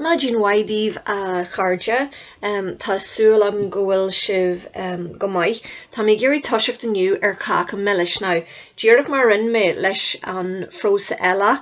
Maidin mhaith daoibh a chairde. Tá súil agam go bhfuil sibh go maith. Tá mé ag iarraidh toiseacht inniu ar Cáca Milis. Now, díreach mar a rinne mé leis an phrósa eile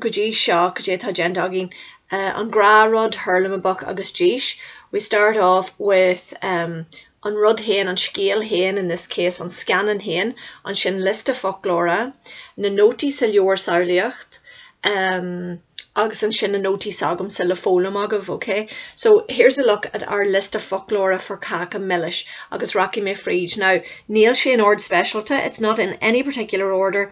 go dtí seo, cad é atá déanta againn? An Gnáthrud, Hurlamaboc agus Dís. We start off with an rud féin, an scéal féin, in this case an scannán féin, ansin liosta foclóra, na nótaí sa leabhar samhlaíocht, em, agus ansin na nótaí s'agamsa le foghlaim agaibh, okay? So, here's a look at our liosta foclóra for Cáca Milis agus rachaidh mé fríd. Now, níl sé in ord speisialta, it's not in any particular order,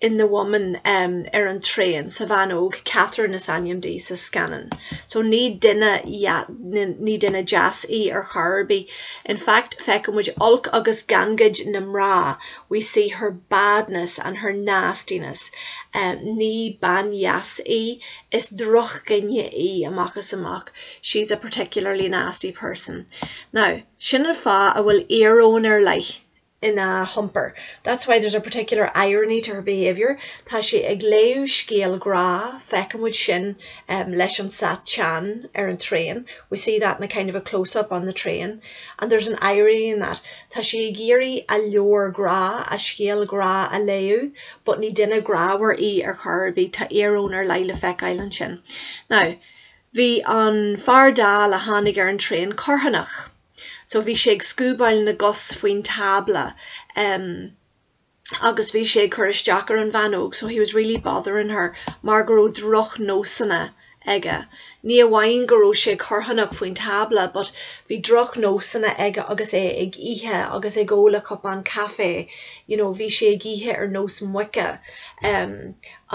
in the woman em ar an traein sa bhean óg Catherine is ainm di sa scannán so ní duine ní duine deas í ar chor ar bith in fact feiceann muid olc agus gangaid na mná we see her badness and her nastiness em ní bean dheas í is drochdhuine í amach is amach she's a particularly nasty person now sin an fáth a bhfuil íoróin ar leith ina hiompar. That's why there's a particular irony to her behaviour, tá sí ag léamh scéal grá, feiceann muid sin leis an seat teann ar an traein, we see that in a kind of a close up on the train, and there's an irony in that, tá sí ag iarraidh a leabhar grá, a scéal grá a léamh but ní duine grámhar í ar chor ar bith, tá íoróin ar leith le feiceáil ansin. Now, bhí an fear dall a tháinig ar an traein corrthónach. so bhí sé ag scuabáil na gcos faoin tábla em agus bhí sé ag cur isteach ar an bhean óg so he was really bothering her mar go raibh drochnósanna aige. Ní amháin go raibh sé corrthónach faoin tábla but bhí drochnósanna aige agus é ag ithe agus ag ól a chupán caife you know bhí sé ag ithe ar nós muice em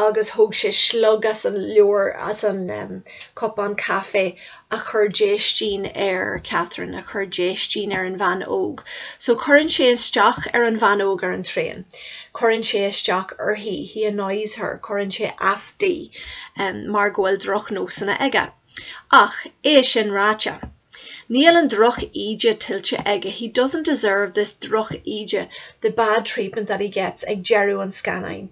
agus thóg sé slog as an leabhar as an em cupán caife a chuir déistin ar Catherine, a chuir déistin ar an bhean óg. So cuireann sé isteach ar an bhean óg ar an traein. Cuireann sé isteach uirthi, he annoys her, cuireann sé as di mar go bhfuil drochnósanna aige. Ach, é sin ráite, níl an drochíde tuillte aige, he doesn't deserve this drochíde, the bad treatment that he gets ag deireadh an scannáin.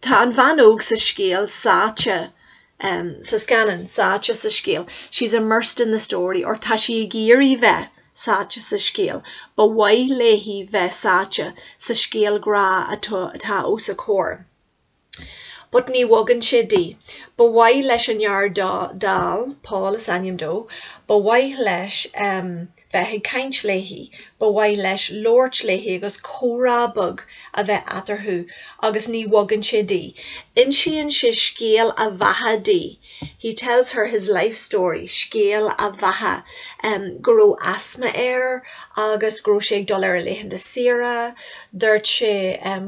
Tá an bhean óg sa scéal sáite, em, sa scannán, sáite sa scéal, she's immersed in the story, or tá sí ag iarraidh bheith sáite sa scéal, ba mhaith léi bheith sáite sa scéal grá atá, atá os a comhair. But ní bhogann sé di. Ba mhaith leis an fhear dall, Paul is ainm dó, ba mhaith leis, em, bheith ag caint léi, ba mhaith leis labhairt léi agus comhrá beag a bheith eatarthu agus ní bhogann sé dí. Insíonn sé scéal a bheatha di, he tells her his life story, scéal a bheatha, go raibh asma air agus go raibh sé ag dul ar a laethanta saoire, duirt sé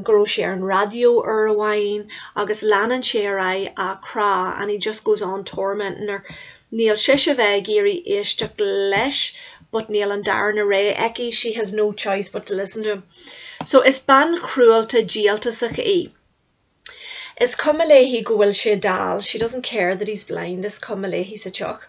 go raibh sé ar an raidió uair amháin agus leanann sé ar aghaidh á crá, and he just goes on tormenting her. Níl sise ag iarraidh éisteacht leis but níl an darna rogha aici, she has no choice but to listen to him. So, is bean chruálta díoltasach í. Is cuma léi go bhfuil sé dall, she doesn't care that he's blind, is cuma léi sa tsioc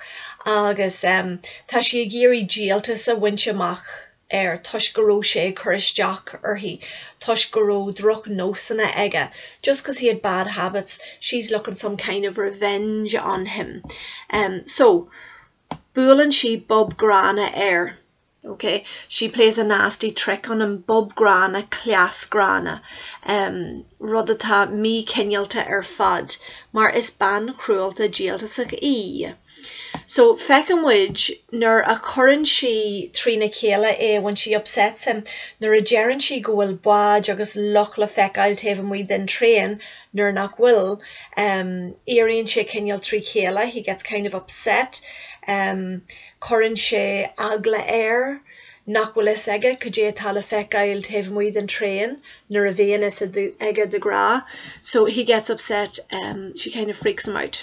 agus, em, tá sí ag iarraidh díoltas a bhaint amach air toisc go raibh sé ag cur isteach uirthi, toisc go raibh droch nósanna aige, just because he had bad habits, she's looking some kind of revenge on him. So, buaileann sí bob gránna air, ok, she plays a nasty trick on him, bob gránna, cleas gránna, rud atá mí-chineálta ar fad, mar is bean chruálta díoltasach í. So, feiceann muid nuair a chuireann sí trína chéile é, when she upsets him, nuair a deireann sí go bhfuil báid agus loch le feiceáil taobh amuigh den traein nuair nach bhfuil, em, éiríonn sé cineál trí chéile, he gets kind of upset, em, cuireann sé eagla air nach bhfuil a fhios aige cad é atá le feiceáil taobh amuigh den traein nuair a bhíonn a fhios aige de ghnáth, so, he gets upset, em, she kind of freaks him out.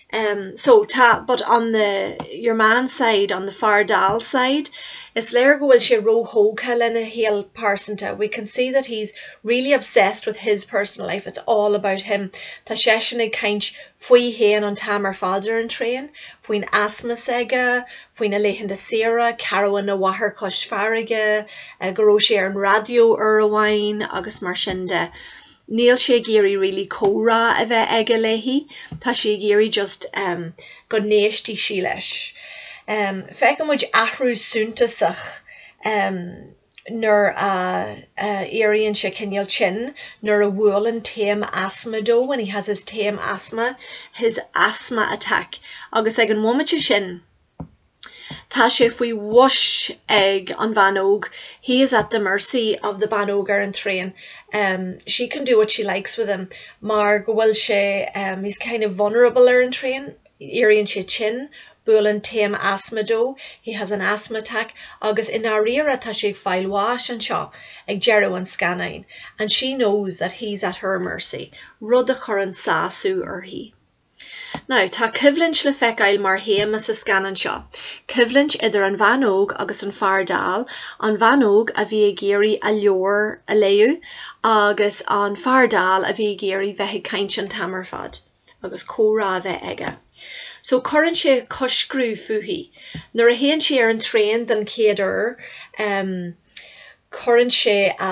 Em so tá but on the your man's side, on the fear dall side, is léir go bhfuil sé róthógtha lena shaol pearsanta, we can see that he's really obsessed with his personal life, it's all about him. Tá seisean ag caint faoi fhéin an t-am ar fad ar an traein, faoin asma s'aige, faoina laethanta saoire, carbhán a mháthar cois farraige, eh go raibh sé ar an raidió uair amháin agus mar sin de. níl sé ag iarraidh really comhrá a bheith aige léi, tá sé ag iarraidh just ehm go n-éistfidh sí leis. Ehm feiceann muid athrú suntasach ehm nuair a éiríonn sé cineál tinn, nuair a bhuaileann taom asma dó, when he has his taom asma, his asthma attack, agus ag an bhomaite sin, Tá sé faoi bhois ag an bhean óg, he is at the mercy of the bean óg ar an traein, she can do what she likes with him mar go bhfuil sé, he's kind of vulnerable ar an traein, éiríonn sé tinn, buaileann taom asma dó, he has an asthma attack agus i ndáiríre tá sé ag fáil bháis anseo ag deireadh an scannáin, and she knows that he's at her mercy, rud a chuireann sásamh uirthi. Now, tá coimhlint le feiceáil mar théama sa scannán seo, coimhlint idir an bhean óg agus an fear dall, an bhean óg a bhí ag iarraidh a leabhar a léamh agus an fear dall a bhí ag iarraidh bheith ag caint an t-am ar fad agus comhrá a bheith aige. So, cuireann sé coiscriú fúithi. Nuair a théann sí ar an traein den chéad uair, eh, cuireann sé a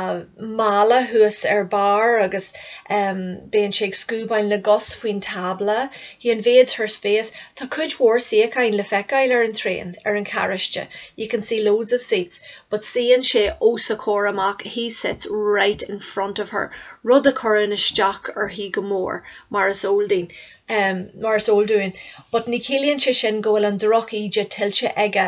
mála thuas ar barr agus bíonn sé ag scuabáil na gcos faoin tábla, he invades her space tá cuid mhór suíocháin le feiceáil ar an traein, ar an charráiste, you can see loads of seats, but suíonn sé os a comhair amach, he sits right in front of her rud a chuireann isteach uirthi go mór, mar is eol dúinn, but ní chiallaíonn sé sin go bhfuil an droch-íde tuillte aige,